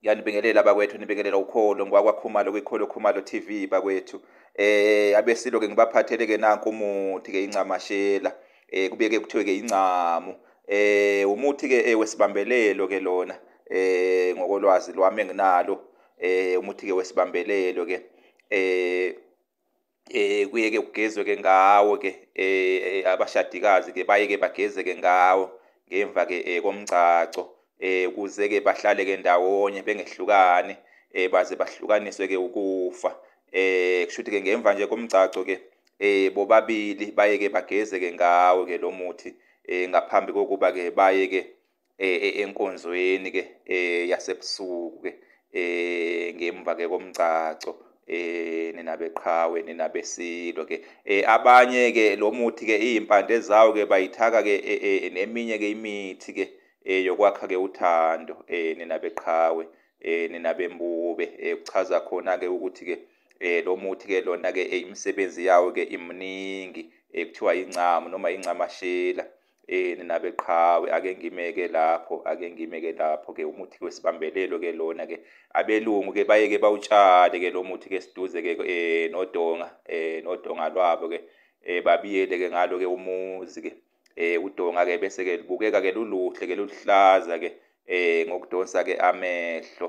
ngiyanibingelela bakwethu nibingelela ukholo ngwakwakhumalo kwikholo khumalo TV bakwethu eh abesilo ke ngibaphathele ke nanku umuthi ke incamashela eh kubeke kuthiwe ke incamu eh umuthi ke eh, wesibambelelo ke lona eh ngokolwazi lwami enginalo eh umuthi ke wesibambelelo ke eh eh kuye ke kugezwe ke ngawo ke eh, eh abashadikazi ke baye ke bageze ke ngawo ngemva ke eh, komgcagco eh kuze ke bahlale ke ndawonye bengehlukani eh baze bahlukaniswe ke ukufa eh kushuthi ke ngemva nje komgcagco ke eh bobabili baye ke bageze ke ngawo ke lo muthi eh ngaphambi kokuba ke baye ke eh, eh, enkonzweni ke eh, yasebusuku ke eh ngemva ke komgcagco eh nina beqhawe nina besilo ke eh abanye ke lo muthi ke izimpande zawo ke bayithaka ke eh, eh, eh, neminye ke imithi ke eh yokwakha ke uthando eh nina beqhawe eh nina bembube eh kuchaza khona ke ukuthi ke eh lo muthi ke lona ke imisebenzi yawo ke imningi ekuthiwa incamu noma incamashela Eh nina beqhawe ake ngimeke lapho ake ngimeke lapho ke umuthi wesibambelelo ke lona ke abelungu ke bayeke bawutshale ke lo muthi ke siduze ke eh nodonga eh nodonga lwabo ke eh babiyele ke ngalo ke umuzi ke eh udonga ke bese ke libukeka ke luluhle ke luhlaza ke eh ngokudonsa ke amehlo